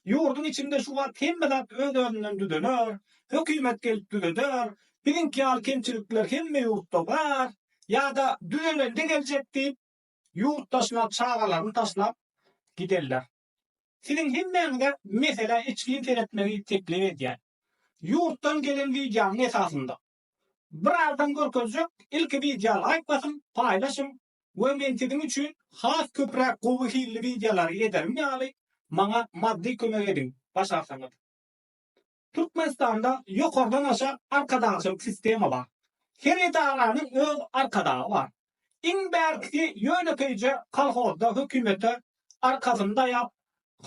Ýurduň içinde şu wagt hemme zat öz-özünden düzeler, hökümet gelip düzeder, biziňki ýaly kemçilikler hemme ýurtda bar, ýa-da düzelende geljek diýip, ýurt daşyna çagalaryny taşlap giderler. Siziň hemmäňize meselä içgin seretmegi teklip edýän. Ýurtdan gelen wideonyň esasynda. Birazdan görkezjek ilki wideo laýk basyň, paýlaşyň we men siziň üçin has köpräk gowy hilli wideolary ederim ýaly maňa maddy kömek ediň başarsaňyz. Türkmenistanda ýokardan aşa arkadagçylyk sistema bar. Her edaranyň öz arkadagy bar. Iň bärkisi ýönekeýje kolhozda hökümete arkasyny daýap,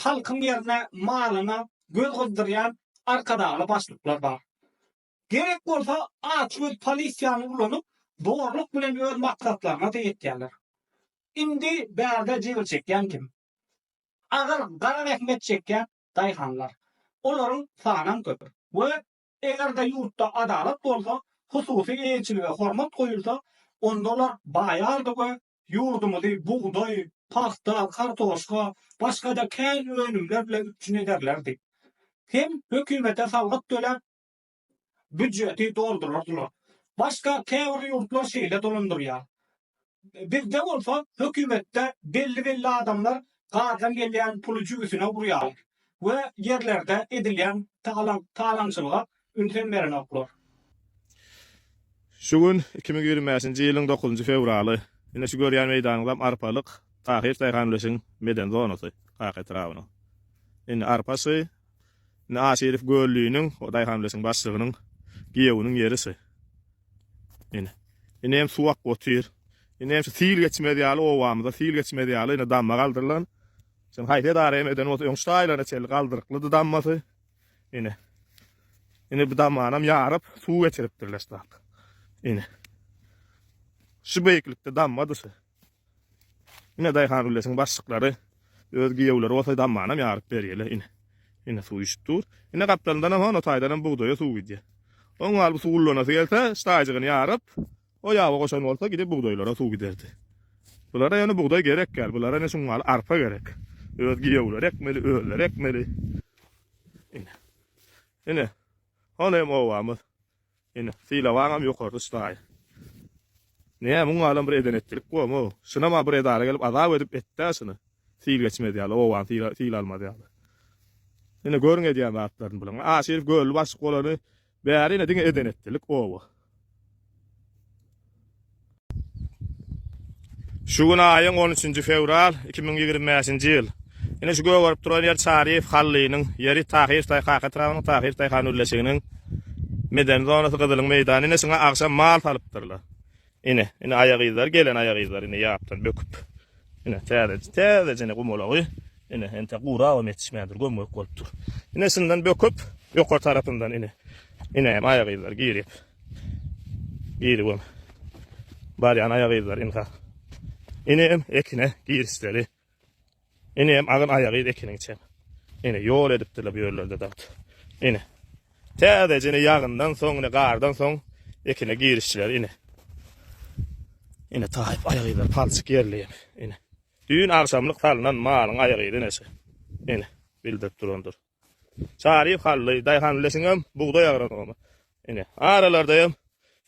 halkyň ýerine malyna göz gyzdyrýan arkadagly başlyklar bar. Gerek bolsa açgöz polisiýany ulanyp zorluk bilen öz maksatlaryna-da ýetýärler. Indi bärde jebir çekýän kim? Agyr gara zähmet çekýän daýhanlar. Olaryň sanam köp. We eger-de ýurtda adalat bolsa, hususy eýeçilige hormat goýulsa, onda olar baýardy we ýurdumyzy bugdaý, pagta, kartoşka, başga-da kän önümler bilen üpjün ederlerdi. Hem hökümete salgyt töläp, Býujeti doldurardylar. Başga käbir ýurtlar şeýle dolandyrýar. Bizde bolsa hökümetde belli-belli adamlar gazdan gelýän puly jübüsine urýar we ýerlerde edilýän talaňçylyga ünsem berenoklar. Şu gün iki müň ýigrimi bäşinji ýylyň dokuzynjy fewraly. Ine şu görýän meýdanyňyzam arpalyk Tahyr daýhan ulusynyň meden zonasy Kaka etrabynyň. Indi arpa şy, Indi Aşyrow Gölliniň, o daýhan birleşiginiň başlygynyň giýewiniň ýeri şu. Ine. Indi hem suw akp otyr. Indi hem şu sil geçmez ýaly obamyza sil geçmez ýaly ine damma galdyrylan. Şony haýsy edara hem eden bolsa öň şu taýlara çenli galdyryklydy dammasy. Ine. Ine bu dammanam ýaryp suw geçiripdirler şu zat. Ine. Şu beýiklikde dammadyr şu. Ine daýhan güllesiň başlyklary öz giýewleri bolsa dammanam ýaryp berýärler ine. Ine suw işip dur. Ine gapdalyndanam hon o taýdanam bugdaýa suw gidýär. Oň galyby suw ullanasy gelse staýjygyny ýaryp o ýaba goşan bolsa gidip bugdaýlara suw giderdi. Bulara ýöne bugdaý gerek ýaly bulara ine şuňňaly arpa gerek. Öz giýewleri ekmeli özleri ekmeli. Ine. Ine. Hon hem obamyz. Ine, sylawaňam ýokarda çydaýy. Nä, muň alam bir eden etdilik bomo. Şunam-a bir edara gelip azap edip etdi-ä şuny. Syl geçmez ýaly, obany syla, syla almaz ýaly. Ine, görüň edýän zatlaryny bulyň. Aşyr göli başyk bolany bäri ine diňe eden etdilik, oba. Şu gün aýyň on üçünji fewral iki müň ýigrimi bäşinji ýyl. Ine şu gögerip duran ýer Çaryýew Hallynyň ýeri Tahyr Taýhak etrabynyň Tahyr Taýhak nurleşiginiň medeni zonasy Gyzylyň meýdany ine şuňa agşam mal salypdyrlar. Ine ine aýa gyzlar gelen aýa gyzlar ine ýapdan böküp. Ine täze täze jene gumalagy ine entek gurabam ýetişmändir göm gök bolupdyr. Ine şundan böküp ýokary tarapyndan ine ine aýa gyzlar girip. Ýeri bol. Barýan aýagy yzlar ynha. Enem ekine girişmeli. Enem agyn aýagy yz ekiniň içem. Ene ýol edipdirler bu ýerlerde dagt. Ene. Täzeje ene ýagyndan soň, ene gardan soň ekine girişdiler ene. Ene taýyp aýagy yzlar palçyk ýerli ene. Düýn agşamlyk salnan malyň aýagy yz eneşe. Ene bildirip durandyr. Çary Hally daýhan leşiňem bugdaý agronoma. Ine, aralarda hem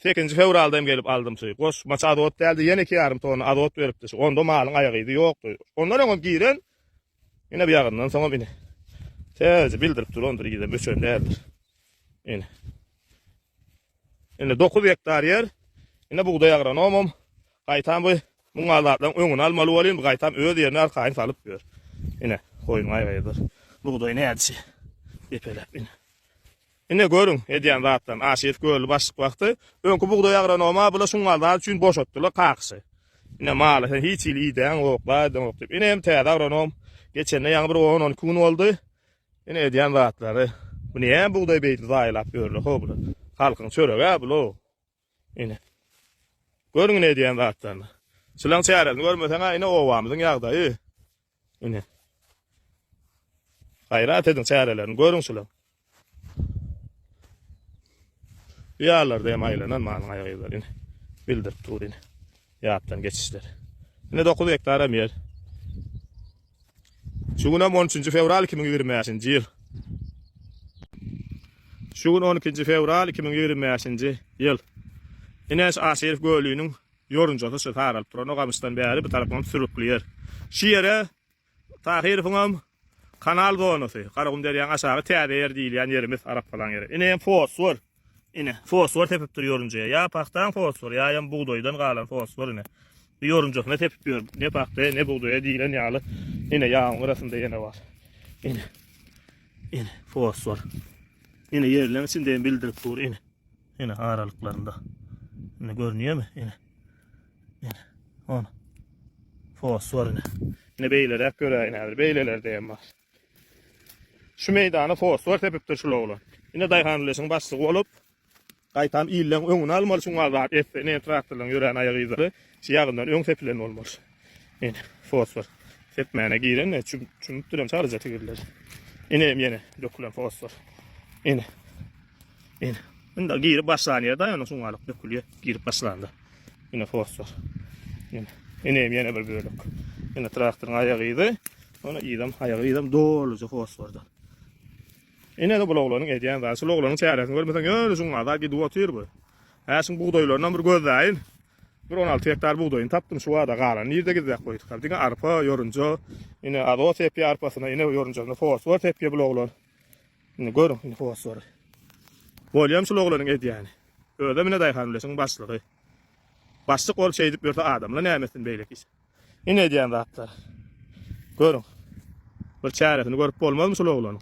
sekizinji fewralda hem gelip aldym şy. Goşmaça azot däldi, ýene iki ýarym tonna azot beripdi şy. Onda malyň aýagydy ýokdy. Ondan öňem giren, ine bu ýagyndan soňam ine. Täze bildirip durandyr, yzam öçen däldir. Ine. Indi dokuz gektar ýer. Ine bugdaý agronomym gaýtam bu muňa zatlaryň öňüni almaly bolýar. Indi gaýtam öz ýerine arkaýyn salyp ýör. Ine, goýun gaýgydyr. Bugdaý nädişi depeläp ine. Ine görüň edýän zatlaryny. Aşyr kölli başlyk wagty öňki bugdaý agronomy bula şuňa zat üçin boşatdylar kakysy. Ine mala sen hiç hili idäň ýok, laýdaň ýok diýip. Ine hem täze agronom geçende ýaňy bir on-on iki gün boldy. Ine edýän zatlary. Bu näme bugdaý beýdip zaýalap ýörler ho bular. Halkyň çöregi-ä bul-ow. Ine. Görüň ine edýän zatlaryny. Çylaň çäresini görmeseň-ä ine obamyzyň ýagdaýy. Ine. Gaýrat ediň çärelerini görüň çylaň. Bu ýarlarda hem aýlanan malyň aýak yzlaryny bildirip dur ine. Ýatdan geçişler. Ine dokuz gektaram ýer. Şu gün hem on üçünji fewral iki müň ýigrimi bäşinji ýyl. Şu gün on ikinji fewral iki müň ýigrimi bäşinji ýyl. Ine şu Aşyryf gölüniň ýorunjasy şu saralyp duran o gamyşdan bäri bu tarapam sürükli ýer. Şu ýere Tahyrowyňam kanal zonasy, Garagum derýaň aşagy täze ýer diýilýän ýerimiz arapgalaň ýeri. Ine hem fosfor. Ine, fosfor sepip dur ýorunjaya. Ýa pagtaň fosfory, ýa hem bugdaýdan galan fosfor ine. Ýorunjasyna sepip ýör. Ne pagta, ne bugdaýa diýlen ýaly. Ine ýagyň gyrasynda ýene bar. Ine. Ine fosfor. Ine ýerleň içinde hem bildirip dur ine. Ine aralyklarynda. Ine görünýärmi? Ine. On. Fosforyny. Ne beýleräk göräýin häzir. Beýlelerde hem bar. Şu meýdana fosfor sepipdir şul oglan. Ine daýhanleşiň başlygy bolup, gaýtam illeň öňüni almaly şuň azat etse, ine traktorlaryň ýörän aýak yzlary şu ýagyndan öň sepilen bolmaly. Ine, fosfor sepmäne giren, çümüpdirem çaryja tigirleri. Ine hem ýene dökülen fosfor. Ine. Ine. Indi girip başlanýar da, ýöne şuňalyk dökülýär. Girip başlanda. Ine fosfor. Ine. Ine ýene bir bölek. Ine traktoryň aýagydy. Ony ýylam, aýagy ýylam doluja fosforda. Ine de bu oglanyň edýän zady. Şu oglanyň çäresini görmeseň, ýöne şuň azar gidip otyr bu. Häşiň bugdaýlaryna bir gözläýin. Bir 16 hektar bugdaýyny tapdym şu wada galan. Nirde gizläp goýduk? Diňe arpa, ýorunja. Ine azot sepýär arpasyna, ine ýorunjasyna fosfor sepýär bu oglan. Indi görüň, indi fosfory. Bolýam şul oglanyň edýäni. Özem ine daýhan ulaşyň başlygy. Başlyk bolup şeýdip ýörse adamla näme etsin beýleki iş. Ine edýän zatlar. Görüň. Bir çäresini görüp bolmazmy şul oglanyň?